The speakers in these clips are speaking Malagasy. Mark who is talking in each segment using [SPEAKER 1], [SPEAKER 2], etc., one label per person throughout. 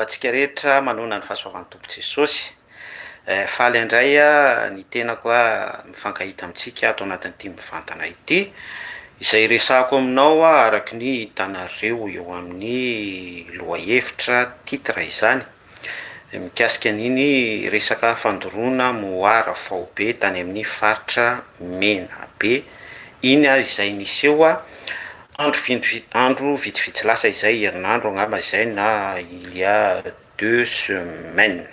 [SPEAKER 1] Fa antsika rehetra manoana ny fahasoavan'ny Tompo Jesosy. Eh, faly indray ah, ny tenako ah, mifankahita amintsika ato anatin'ity mivantana ity. Izay iresahako aminao ah, araka ny hitanareo eo amin'ny lohahevitra, titre, izany, mikasika an'iny resaka fandoroana mohara faobe tany amin'ny faritra Menabe iny ah, izay niseho ah, Andro vindvi andro vitsivitsy lasa izay, herinandro angamba izay na il y a deux semaines.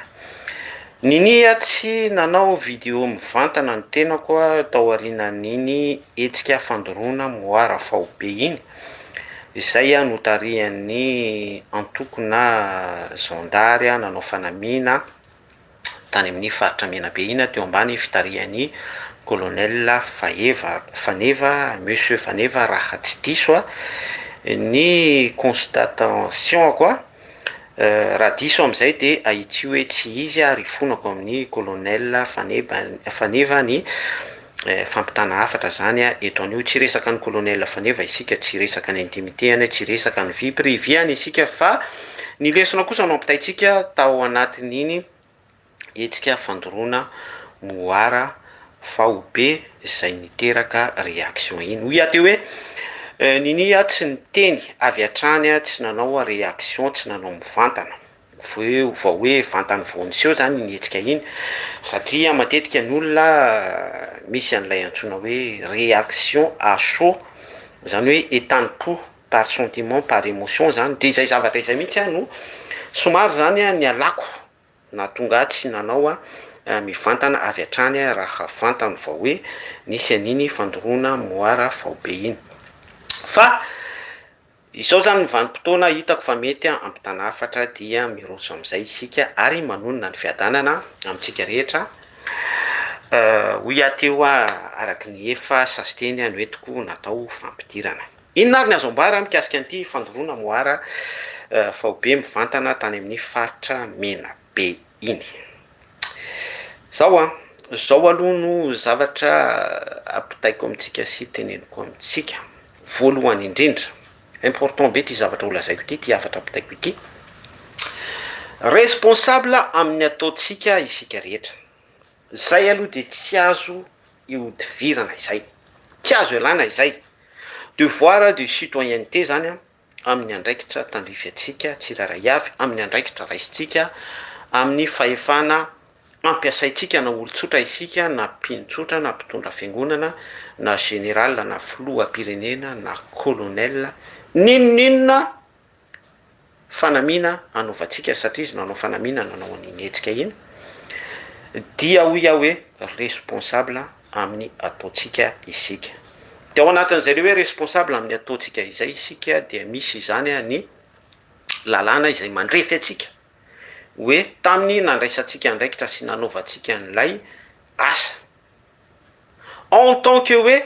[SPEAKER 1] Ninia tsy nanao vidéo mivantana ny tenako tao aorianan'iny hetsika fandoroana moara faobe iny, izay notarihan'ny antokona zandary nanao fanamiana, tany amin'ny faritra Menabe ina teo ambany fitarihan'i Colonel Faheva Faneva Monsieur Faneva raha tsy diso a ny constatation-ko a raha diso amin'izay dia ahitsio hoe tsy izy ary ifonako amin'ny Colonel Faneba Faneva ny fampitana hafatra zany a, eto anio tsy resaka ny colonel faneva isika, tsy resaka ny intimite any, tsy resaka ny vie privée any isika fa ny lesona kosa no ampitaintsika tao anatin'iny hetsika fandoroana moara faobe zay niteraka reaction iny, hoy aho teo hoe Ninia tsy niteny avy hatrany a, tsy nanao reaction, tsy nanao mivantana. Voeo vao hoe vantany vao niseho izany iny hetsika iny satria matetika ny olona misy an'ilay antsoina hoe réaction à chaud, izany hoe entanim-po par sentiment, par émotion izany, dia izay zavatra izay mihitsy aho no somary izany nialako, nahatonga ahy tsy nanao mivantana avy hatrany aho raha vantany vao hoe nisy an'iny fandoroana moara faobe iny fa. Izao izany ny vanim-potoana hitako fa mety hampitana hafatra dia miroso amin'izay isika ary manonona ny fiadanana amintsika rehetra, hoy aho teo araka ny efa sasiteny noentiko natao fampidirana. Inona ary ny azo ambara mikasika an'ity fandoroana moara faobe mivantana tany amin'ny faritra Menabe iny. Zao an, zao aloha no zavatra ampitaiko amintsika sy teneniko amintsika, voalohany indrindra, important be ity zavatra ho lazaiko ity, ity hafatra ampitaiko ity, responsable amin'ny ataontsika isika rehetra, zay aloha dia tsy azo ihodivirana izay, tsy azo ialana izay, devoir de citoyenneté zany an, amin'ny andraikitra tandrify antsika tsirairay avy, amin'ny andraikitra raisintsika, amin'ny fahefana ampiasaintsika na olon-tsotra isika na mpino tsotra na mpitondra fiangonana na général na filoham-pirenena na colonel n'inon'inona fanamiana anaovantsika satria izy nanao fanamiana nanao an'iny hetsika iny dia hoy aho hoe responsable amin'ny ataontsika isika. Dia ao anatin'izay le hoe responsable amin'ny ataontsika izay isika dia misy izany ny lalàna izay mandrefy antsika hoe tamin'ny nandraisantsika andraikitra sy nanaovantsika an'ilay asa. En tant que hoe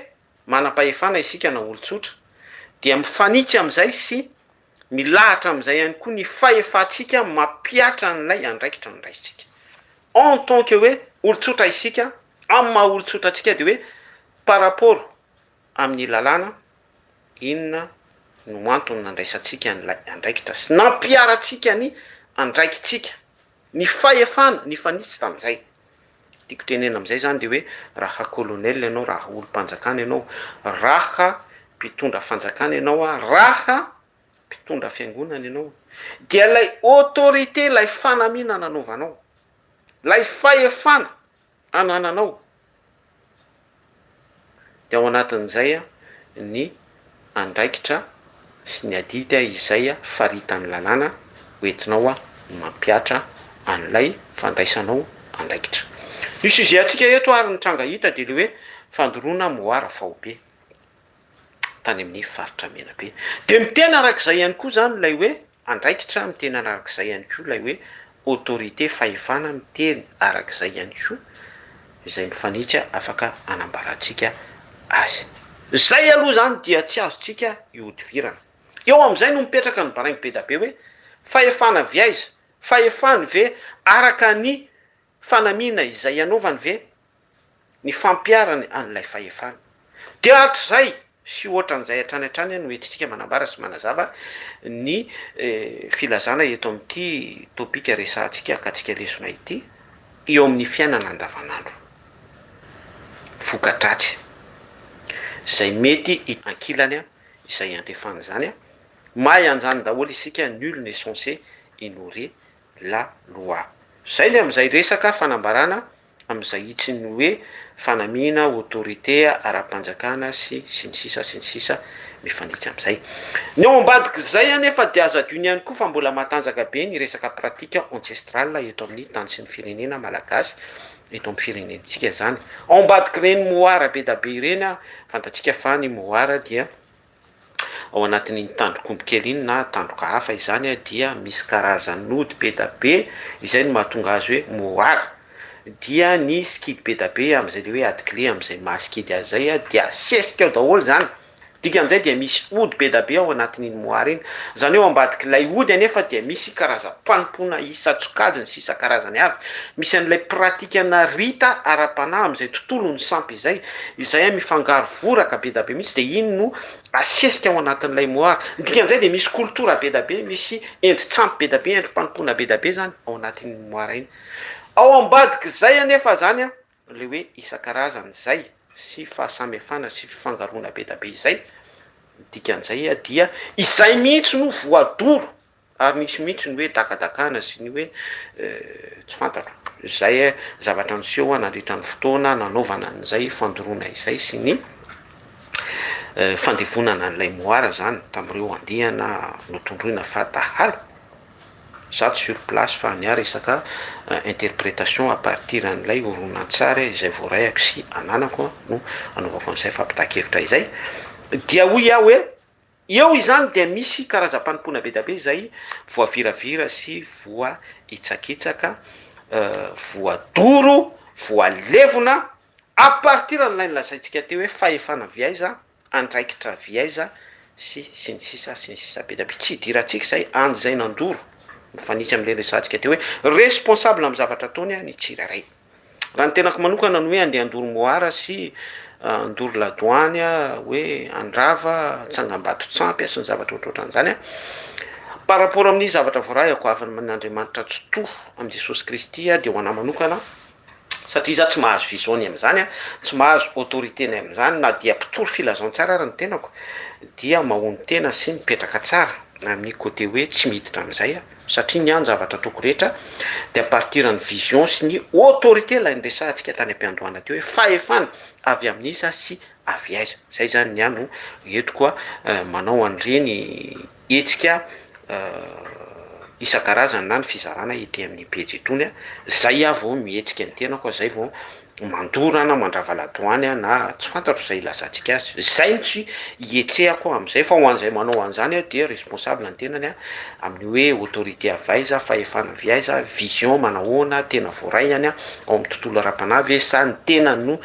[SPEAKER 1] manam-pahefana isika na olon-tsotra dia mifanitsy amin'izay sy Milahatra amin'izay ihany koa ny fahefantsika mampihatra an'ilay andraikitra nondraisintsika. En tant que hoe olon-tsotra isika, amin'ny maha olon-tsotra antsika dia hoe par rapport amin'ny lalàna, inona no antony nandraisantsika an'ilay andraikitra sy nampiharantsika ny andraikitsika. Ny fahefana nifanitsy tamin'izay. Tiako tenenina amin'izay izany dia hoe raha colonel ianao, raha olom-panjakana ianao, raha mpitondra fanjakana ianao, raha mpitondra fiangonana ianao, dia ilay autorité, ilay fanamiana nanaovanao, ilay fahefana, anananao dia ao anatin'izay ny andraikitra sy ny adidy izay faritan'ny lalàna hoentinao mampihatra an'ilay fandraisanao andraikitra. Ny sujet-ntsika eto ary ny tranga hita dia ilay hoe fandoroana moara faobe. tany amin'ny faritra Menabe. Dia miteny araka izay ihany koa izany ilay hoe andraikitra, miteny araka izay ihany koa ilay hoe autorité, fahefana, miteny araka izay ihany koa izay mifanitsy afaka hanambarantsika azy. Izay aloha izany dia tsy azontsika ihodivirana. Eo amin'izay no mipetraka ny baraingo be dia be hoe fahefana avy aiza? Fahefany ve araka ny Fanamiana izay hanaovany ve ny fampiharany an'ilay fahefana. Dia hatrizay sy hoatran'izay hatrany hatrany no entintsika manambara sy manazava ny filazana eto amin'ity topika resahantsika akatsika lesona ity eo amin'ny fiainana andavanandro. Voka-dratsy izay mety hita ankilany izay iantefan'izany. Mahay an'izany daholo isika, nul n'est censé ignorer la loi. Zay ny amin'izay resaka fanambarana amin'izay hitsiny ny hoe fanamiana autorité ara-panjakana sy sy ny sisa sy ny sisa mifanitsy amin'izay. Ny ao ambadik'izay anefa dia aza adino ihany koa fa mbola matanjaka be ny resaka pratique ancestrale eto amin'ny tany sy ny firenena malagasy eto amin'ny firenentsika zany. Ao ambadik'ireny mohara be da be ireny fantatsika fa ny mohara dia Ao anatin'iny tandrok'omby kely iny na tandroka hafa izany dia misy karazan'ody be da be izay no mahatonga azy hoe moara. Dia ny sikidy be da be amin'izay le hoe atikile amin'izay maha sikidy azy zay dia asesika ao daholo zany. Dikan'izay dia misy ody be da be ao anatin'iny moara iny. Zany hoe ao ambadik'ilay ody anefa dia misy karazam-panompoana isan-tsokajiny sy isan-karazany avy. Misy an'ilay pratikanà rita ara-panahy amin'izay tontolo ny sampy. izay izay mifangaro voraka bedabe mihitsy dia iny no asesika ao anatin'ilay moara dikan'izay dia misy koltora bedabe misy endri-tsampy bedabe endri-panompoana bedabe zany ao anatin'ny moara iny ao ambadik'izay anefa zany a le hoe isan-karazany izay sy fahasamihafana sy fifangaroana bedabe izay dikan'izay a dia izay mihitsy no voadoro Ary nisy mihitsy ny hoe dakadakana sy ny hoe tsy fantatro. Izay zavatra niseho nandritra ny fotoana nanaovana an'izay fandoroana izay sy ny fandevonana an'ilay moara izany tamin'ireo andiana notondroina fa dahalo, zato sur place fa ny ahy resaka interprétation à partir an'ilay horonantsary izay voaraiako sy ananako no anaovako an'izay fampitahan-kevitra izay dia hoy aho hoe. Eo izany dia misy karazam-panompoana bedabe izay voaviravira sy voahitsakitsaka, voadoro, voalevona, à partir an'ilay nolazaintsika teo hoe fahefana avy aiza, andraikitra avy aiza, sy sy ny sisa sy ny sisa bedabe. Tsy idirantsika izay, any izay nandoro, mifanitsy amin'ilay resahantsika teo hoe responsable amin'ny zavatra ataony ny tsirairay. Raha ny tenako manokana ny hoe andeha handoro moara sy handoro ladoany hoe handrava tsangambato tsampy sy ny zavatra ohatrohatran' izany a par rapport amin'ny zavatra voarahiko avy amin'Andriamanitra tsitoha amin'i Jesosy Kristy dia ho anahy manokana satria za tsy mahazo vision-ny amin'izany a tsy mahazo autorité-ny amin'izany na dia mpitory filazantsara ary ny tenako dia mahonon-tena sy mipetraka tsara amin'ny côté hoe tsy miditra amin'izay aho. satria ny ahy ny zavatra ataoko rehetra dia à partir ny vision sy ny autorité ilay niresahantsika tany am-piandohana teo hoe fahefana avy amin'iza sy avy aiza, izay izany ny ahy no entiko manao an'ireny hetsika isan-karazany na ny fizarana ety amin'ny pejy itony, izay aho vao mihetsika ny tenako, izay vao mandoro aho na mandrava ladoany aho na tsy fantatro izay ilazantsika azy, izay no tsy hihetsehako amin'izay fa ho an'izay manao an'izany aho dia responsable ny tenany an, amin'ny hoe autorité avy aiza, fahefana avy aiza, vision manahoana, tena voaray any an, ao amin'ny tontolo ara-panahy ve sa ny tenany no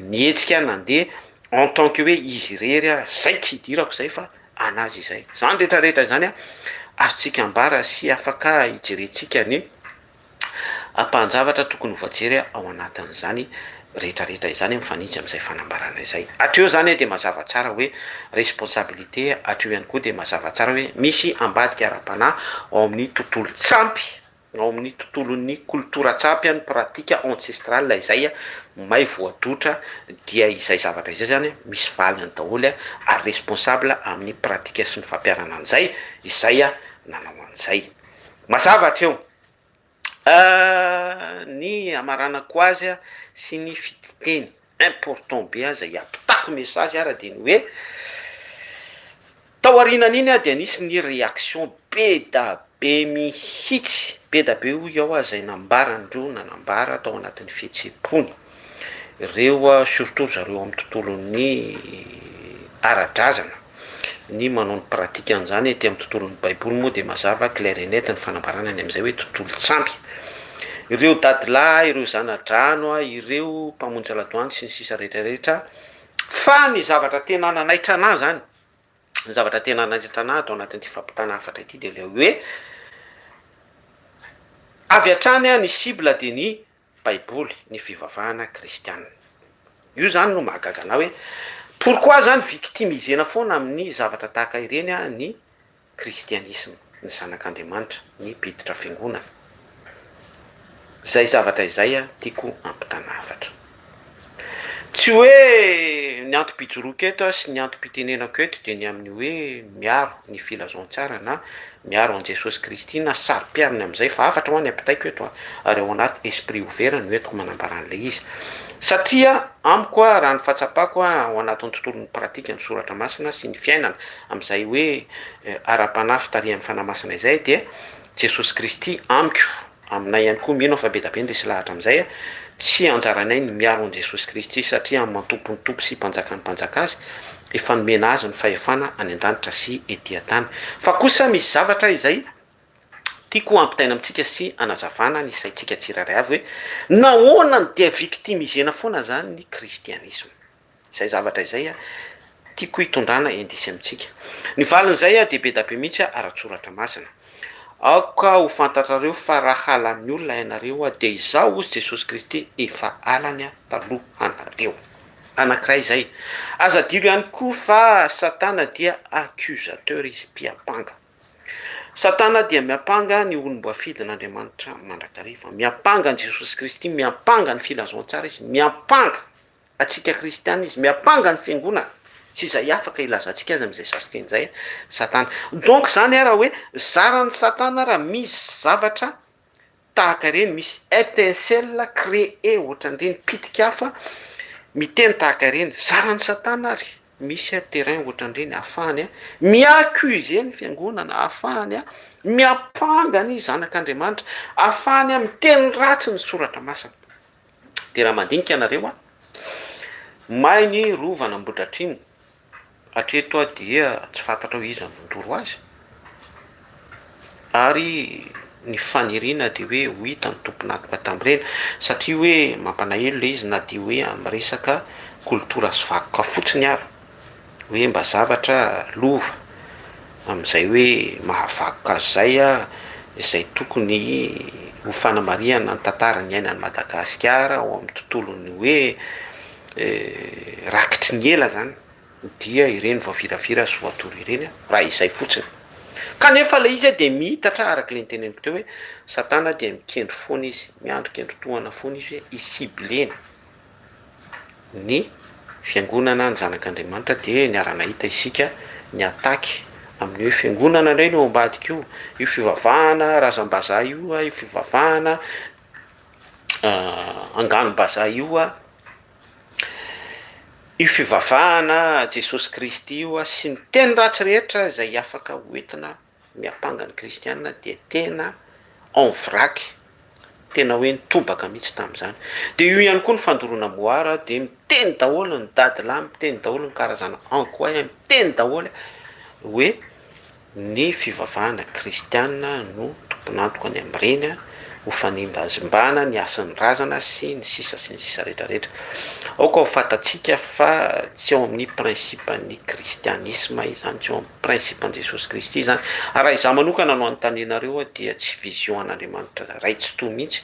[SPEAKER 1] mihetsika nandeha en tant que hoe izy irery an, izay tsy hidirako izay fa an'azy izay. Izany rehetra rehetra izany an, azontsika ambara sy afaka hijerentsika ny. Ampahan-javatra tokony ho voajery ao anatin'izany rehetrarehetra izany mifanitsy amin'izay fanambarana izay. Hatreo izany dia mazava tsara hoe responsabilité, hatreo ihany koa dia mazava tsara hoe misy ambadika ara-panahy ao amin'ny tontolon-tsampy, ao amin'ny tontolon'ny kolotoran-tsampy any, pratique ancestrale izay may voadotra, dia izay zavatra izay izany misy valiny daholo ary responsable amin'ny pratique sy ny fampiharana an'izay izay nanao an'izay. Mazava hatreo. Ny hamaranako azy sy ny fiteny important be aza hiampitako message ara de ny hoe, tao aorianan'iny aho dia nisy ny reaction be da be mihitsy, be da be hoy aho zay nambarany reo nanambara tao anatin'ny fihetseham-pony. ireo surtout ry zareo amin'ny tontolon'ny ara-drazana ny manao ny pratique an'izany aty amin'ny tontolon'ny baiboly moa dia mazava claire et net ny fanambarana any amin'izay hoe tontolo tsamby ireo dadilahy ireo zana-drano a ireo mpamonjy ladoany sy ny sisa rehetra rehetra fa ny zavatra tena nanaitra anah zany ny zavatra tena nanaitra anah ato anatin'ity fampitana hafatra ity dia ilay hoe avy hatrany a ny cible dia ny Baiboly ny fivavahana kristiana. Io zany no mahagaga anah hoe pourquoi zany victimisena foana amin'ny zavatra tahaka ireny ny kristianisma, ny zanak'Andriamanitra, ny mpiditra fiangonana. Zay zavatra izay tiako ampitanafatra. Tsy hoe ny antom-pijoroako eto sy ny antom-pitenenako eto dia ny amin'ny hoe miaro ny filazantsara na miaro an'i Jesosy Kristy na saro-piariny amin'izay fa hafatra hoa ny ampitaiko eto a! ary ao anaty esprit ouvert no entiko manambara an'ilay izy satria amiko a! raha ny fahatsapako a! ao anatin'ny tontolon'ny pratika ny soratra masina sy ny fiainana amin'izay hoe ara-panahy fitarihan'ny Fanahy Masina izay dia Jesosy Kristy amiko Aminay ihany koa, mino aho fa be da be ny resy lahatra amin'izay. Tsy anjaranay ny miaro an'i Jesosy Kristy, satria amin'ny maha-Tompon'ny Tompo sy Mpanjakan'ny Mpanjaka Azy, efa nomena Azy ny fahefana any an-danitra sy ety an-tany. Fa kosa misy zavatra izay tiako hampitaina amintsika sy hanazavana ny saintsika tsirairay avy hoe, nahoana no dia victimisena foana izany ny kristianisma? Izay zavatra izay tiako hitondrana indice amintsika. Ny valin'izay dia be dia be mihitsy ara-tsoratra masina. Aoka ho fantatrareo fa raha halan'ny olona ianareo dia izaho hozy Jesosy Kristy efa halany talohanareo. Anankiray izay. Aza adino ihany koa fa Satana dia accusateur izy, mpiampanga. Satana dia miampanga ny olom-boafidin'Andriamanitra mandrakariva. Miampanga an'i Jesosy Kristy, miampanga ny filazantsara izy, miampanga. Antsika kristiana izy miampanga ny fiangonana sy izay afaka hilazantsika azy amin'izay sasy teny izay satana. Donc zany ara hoe zaran'i satana ara misy zavatra tahaka ireny misy etincelle cree ohatran'ireny pitik'afo miteny tahaka ireny zaran'i satana ary misy a terrain ohatran'ireny ahafahany a mi-accuser ny fiangonana ahafahany a miampanga ny zanak'Andriamanitra ahafahany a miteny ratsy ny soratra masina. Dia raha mandinika ianareo an, may ny rova an'Ambohidratrimo, hatreto aho dia tsy fantatrao iza no nandoro azy, ary ny faniriana dia hoe ho hita ny tompon'antoka tamin'ireny, satria hoe mampalahelo ilay izy na dia hoe amin'ny resaka kolotora sy vakoka fotsiny ara. Hoe mba zavatra lova amin'izay hoe mahavakoka azy izay izay tokony ho fanamarihana ny tantara niainan'i Madagasikara ao amin'ny tontolon'ny hoe rakitry ny ela izany dia ireny voaviravira sy voadoro ireny raha izay fotsiny. Kanefa ilay izy dia miitatra araka ilay noteneniko teo hoe satana dia mikendry foana izy, miandry kendry tohana foana izy hoe hi-cibler-na. ny fiangonana ny zanak'Andriamanitra dia niara-nahita isika niataky amin'ny hoe fiangonana indray no ambadika io, io fivavahana razam-bazaha io, io fivavahana angano-bazaha io, io fivavahana Jesosy Kristy io sy ny teny ratsy rehetra izay afaka hoentina. Miampanga ny kristiana dia tena en vrac, tena hoe nitobaka mihitsy tamin'izany. Dia io ihany koa ny fandoroana moara dia miteny daholo ny dadilahy, miteny daholo ny karazana ankoay, miteny daholo hoe ny fivavahana kristiana no tompon'antoka ny amin'ireny, ho fanimbazimbana ny hasin'ny razana sy ny sisa sy ny sisa rehetra rehetra. Aoka ho fantatsika fa tsy ao amin'ny principe-n'ny kristianisma izany, tsy ao amin'ny Principe an'i Jesosy Kristy izany. Ary raha izaho manokana no anontanenareo aho dia tsy vision an'Andriamanitra Ray Tsitoha mihitsy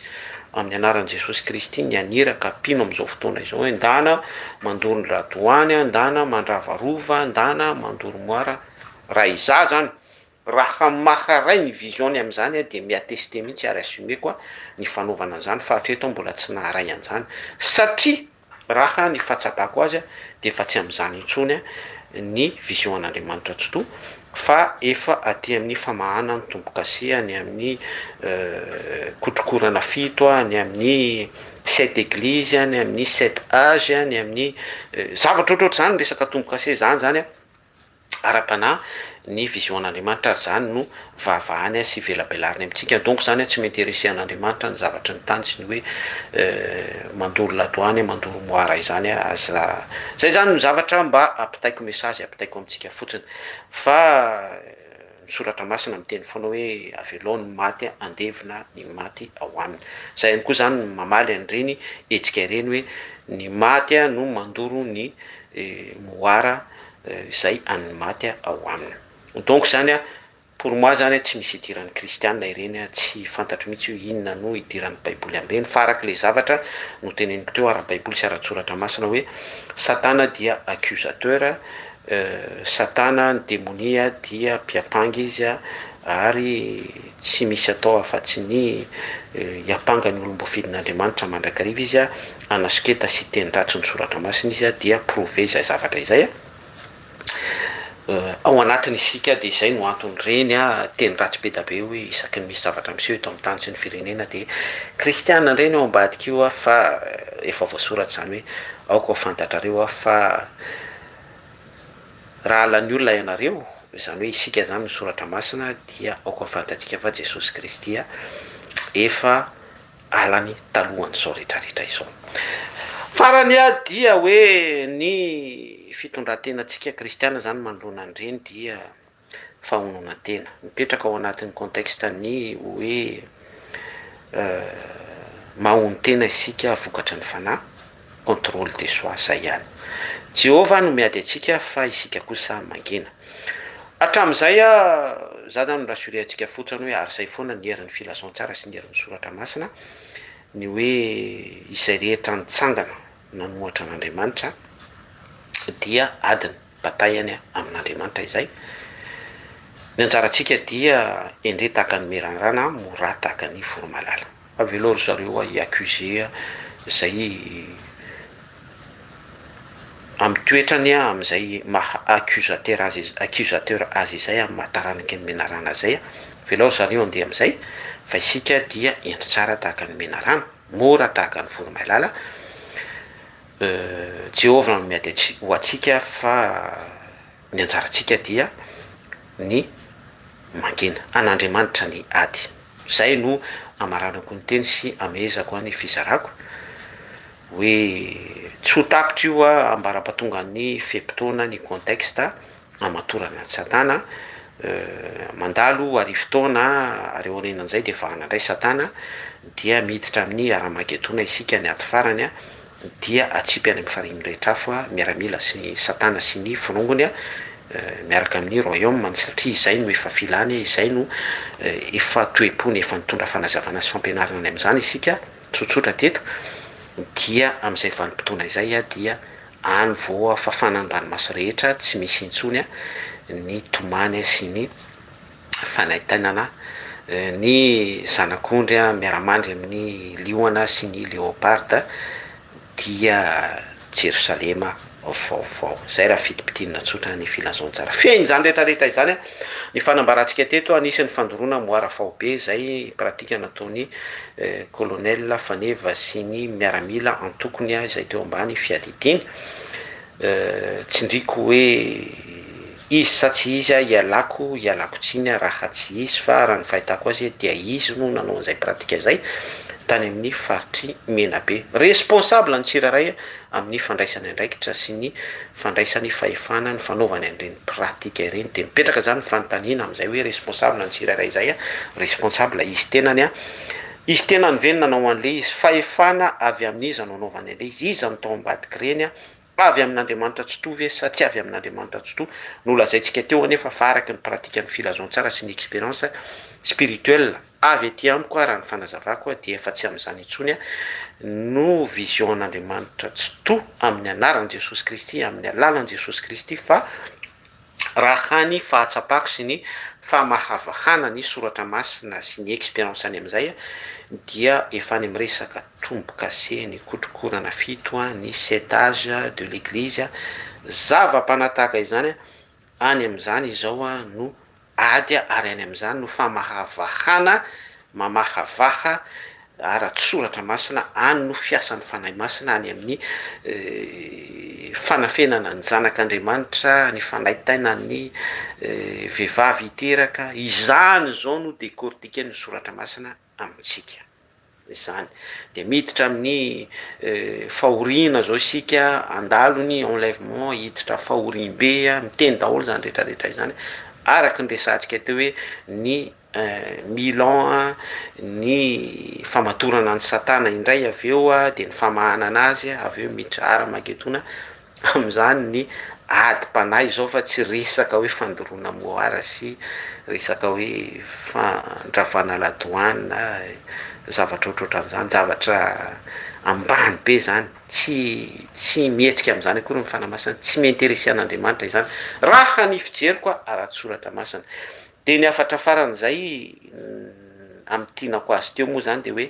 [SPEAKER 1] amin'ny anaran'i Jesosy Kristy ny haniraka mpino amin'izao fotoana izao hoe ndana mandoro ny radoany a, ndana mandrava rova, ndana mandoro moara. Raha izaho izany, raha maharay ny vision-ny amin'izany aho dia mi-attester mihitsy ary assumer-ko ny fanaovana an'izany fa hatreto aho mbola tsy naharay an'izany satria Raha ny fahatsapako azy dia efa tsy amin'izany intsony ny vision an'Andriamanitra Tsitoha fa efa aty amin'ny famahana ny tombo-kase any amin'ny kotrokorana fito, any amin'ny sept églises, any amin'ny sept âges, any amin'ny zavatra ohatrohatr'izany ny resaka tombo-kase izany izany. ara-panahy ny vision an'Andriamanitra ary izany no vavahany sy velabelariny amintsika donc izany hoe tsy m'interesser an'Andriamanitra ny zavatry ny tany sy ny hoe mandoro la douane mandoro moara izany aza zay zany no zavatra mba ampitaiko message ampitaiko amintsika fotsiny fa Ny Soratra Masina miteny foana hoe avelao ny maty handevina ny maty ao aminy. Izay ihany koa izany no mamaly an'ireny hetsika ireny hoe ny maty no mandoro ny moara izay an'ny maty ao aminy. Donc izany pour moi izany tsy misy idiran'ny kristiana ireny, tsy fantatro mihitsy hoe inona no idiran'ny baiboly amin'ireny fa araka ilay zavatra noteneniko teo ara-baiboly sy ara-tsoratra masina hoe satana dia accusateur Satana, ny demonia, dia mpiampanga izy, ary tsy misy atao afa-tsy ny hiampanga ny olom-boafidin'Andriamanitra mandrakariva izy, hanasoketa sy hiteny ratsy ny Soratra Masina izy, dia prouver izay zavatra izay ao anatiny isika, dia izay no anton'ireny teny ratsy be dia be hoe isaky ny misy zavatra miseho eto amin'ny tany sy ny firenena dia kristiana indray ny ao ambadika io fa efa voasoratra izany hoe aoka ho fantatrareo fa Raha lany olona ianareo, izany hoe isika izany ny soratra masina dia aoka fantatsika fa Jesosy Kristy efa alany talohan'izao rehetra rehetra izao. Farany aho dia hoe ny fitondrantenantsika kristiana izany manoloana an'ireny dia. fahaononantena. Mipetraka ao anatin'ny contexte ny hoe mahono tena isika vokatry ny fanahy, contrôle de soi, izay ihany. Jehovah no miady antsika fa isika kosa mangina. Hatramin'izay ah, za zany no rassurer antsika fotsiny hoe ary izay foana ny herin'ny filazantsara sy ny herin'ny soratra masina, ny hoe izay rehetra nitsangana nanohatra an'Andriamanitra dia adiny. Bataille any amin'Andriamanitra izay. Ny anjarantsika dia endre tahaka ny mirandrana a, mora tahaka ny voromalala. Avelao ry zareo a hi-accuser a, zay amin'ny toetrany a, amin'izay maha accusateur azy, accusateur azy izay amin'ny maha taranaky ny menarana zay a, avelao ry zareo handeha amin'izay fa isika dia endre tsara tahaka ny menarana, mora tahaka ny voromailala. Jehovah no miady ho antsika fa ny anjarantsika dia ny mangina an'Andriamanitra ny ady. Izay no amaranako ny teny sy amehezako ny fizarako hoe tsy ho tapitra io ambarapatongan'ny fe-potoana, ny contexte, hamatorana an'i Satana, mandalo arivo taona ary aorianan'izay dia vahana indray Satana dia miditra amin'ny Haramagedona isika ny ady farany dia atsipy any amin'ny farihin'ny rehetra afo miaramila sy Satana sy ny forongony miaraka amin'ny royaume ny satria izay no efa filany izay no efa toe-pony efa nitondra fanazavana sy fampianarana any amin'izany isika tsotsotra teto dia amin'izay vanim-potoana izay dia Any voa fafana ny ranomaso rehetra tsy misy intsony ny tomany sy ny fanaintainana ny zanak'ondry miara-mandry amin'ny liona sy ny leoparda dia Jerosalema vaovao. Izay raha fitim-pitinina tsotra ny filazantsara. Fehiny izany rehetra rehetra izany. Ny fanambarantsika teto anisan'ny fandoroana moara faobe izay pratika nataon'i Colonel Faneva sy ny miaramila antokony izay teo ambany fiadidiany. Tsindriako hoe izy sa tsy izy aho ialako ialako tsiny raha tsy izy fa raha ny fahitako azy dia izy no nanao an'izay pratika izay tany amin'ny faritry Menabe. Responsable ny tsirairay amin'ny fandraisany andraikitra sy ny fandraisany fahefana ny fanaovany an'ireny pratique ireny dia mipetraka zany ny fanontaniana amin'izay hoe responsable ny tsirairay izay a, responsable izy tenany a, izy tenany ve no nanao an'le izy, fahefana avy amin'iza no anaovany an'le izy, iza no tao ambadik'ireny a, avy amin'Andriamanitra Tsitoha ve sa tsy avy amin'Andriamanitra Tsitoha, nolazaintsika teo anefa fa araka ny pratique ny filazantsara sy ny experience spirituelle, Avy aty amiko aho raha ny fanazavako aho dia efa tsy amin'izany intsony aho no vision an'Andriamanitra tsitoha amin'ny anaran'i Jesosy Kristy amin'ny alalan'i Jesosy Kristy fa raha ny fahatsapako sy ny famahavahana ny soratra masina sy ny experience any amin'izay aho dia efa any amin'ny resaka tombokase ny kotrokorana fito ny setage de l'eglise zava-panahy tahaka izany aho Any amin'izany izao aho no ady ary any amin'izany no famahavahana, mamahavaha ara-tsoratra masina, any no fiasan'ny Fanahy Masina, any amin'ny fanafenana ny zanak'Andriamanitra, ny fanaitaina ny vehivavy hiteraka, izany izao no décortiquer ny soratra masina. amintsika. Izany dia miditra amin'ny fahoriana izao isika handalo ny enlèvement hiditra fahoriambe miteny daholo izany retraretra izany araka ny resahantsika teo hoe ny mille ans ny famatorana an'i satana indray avy eo dia ny famahanana azy avy eo miditra armagedona amin'izany ny adim-panahy izao fa tsy resaka hoe fandoroana moara sy resaka hoe fandravana la douane zavatra ohatrohatran'izany, zavatra ambany be izany, tsy tsy mihetsika amin'izany akory ny fanahy masina, tsy mi-interesser an'Andriamanitra izany raha ny fijeriko aho ara-tsoratra masina, dia ny hafatra faran'izay amin'ny tianako azy teo moa izany dia hoe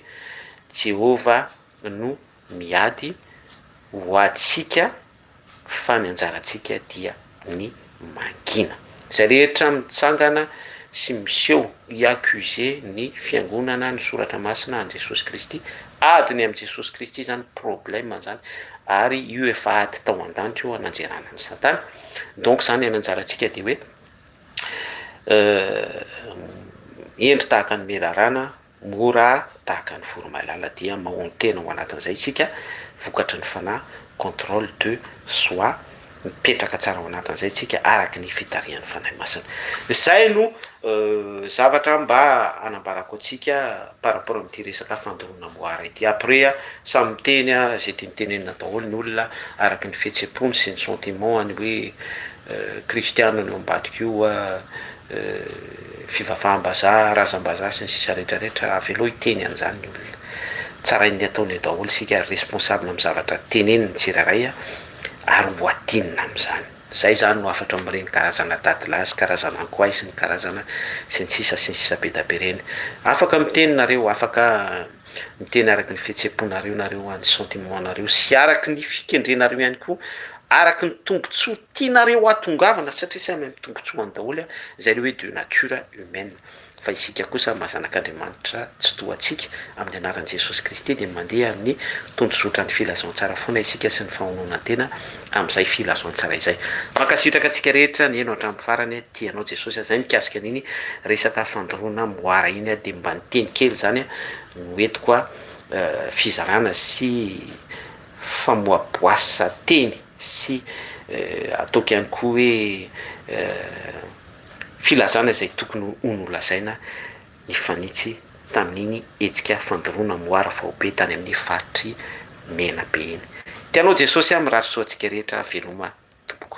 [SPEAKER 1] Jehovah no miady ho antsika fa ny anjarantsika dia ny mangina. Izay rehetra mitsangana sy miseho hi accuse ny fiangonana, ny soratra masina, an'i Jesosy Kristy, ady ny amin'i Jesosy Kristy izany, problème izany, ary io efa ady tao an-danitra io ananjerana an'i satana, donc izany ny anjarantsika dia hoe hendry tahaka ny menarana, mora tahaka ny voromailala dia mahonon-tena ao anatin'izay isika vokatry ny fanahy, contrôle de soi, mipetraka tsara ao anatin'izay isika araky ny fitarihan'ny Fanahy Masina. Izay no zavatra mba hanambarako antsika par rapport amin'ity resaka fandoroana moara ity. Après samy miteny izay tiany tenenina daholo ny olona araky ny fihetsem-pony sy ny sentiment-ny hoe kristiana ny ao ambadik'io fivavaham-bazaha, razam-bazaha sy ny sisa rehetra rehetra, avelao hiteny an'izany ny olona. Tsarainy ny ataony eo daholo isika ary responsable amin'ny zavatra teneniny ny tsirairay ary ho atinina amin'izany. Izay izany no hafatra amin'ireny karazana dadilahy sy karazana ankoay sy ny karazana sy ny sisa sy ny sisa be da be ireny. Afaka miteny nareo, afaka miteny araky ny fihetsem-ponareo nareo, ny sentiment-nareo sy araky ny fikendrenareo ihany koa, araky ny tombotsoa Tianareo hahatongavana satria samy amin'ny tombotsoany daholo an, izay le hoe de nature humaine, fa isika kosa maha zanak'Andriamanitra tsy toa antsika, amin'ny anaran'i Jesosy Kristy dia mandeha amin'ny tondrozotran'ny filazantsara foana isika sy ny fahononan-tena amin'izay filazantsara izay. Mankasitraka antsika rehetra nihaino hatramin'ny farany, tia anao Jesosy an, zay mikasika an'iny resaka fandoroana moara iny an, dia mba ny teny kely zany an no entiko an, fizarana sy famoaboasa teny. sy ataoko ihany koa hoe filazana izay tokony ho nolazaina nifanitsy tamin'iny hetsika fandoroana moara faobe tany amin'ny faritr'i Menabe iny. Te hanao Jesosy aho mirary soa antsika rehetra veloma tompoko.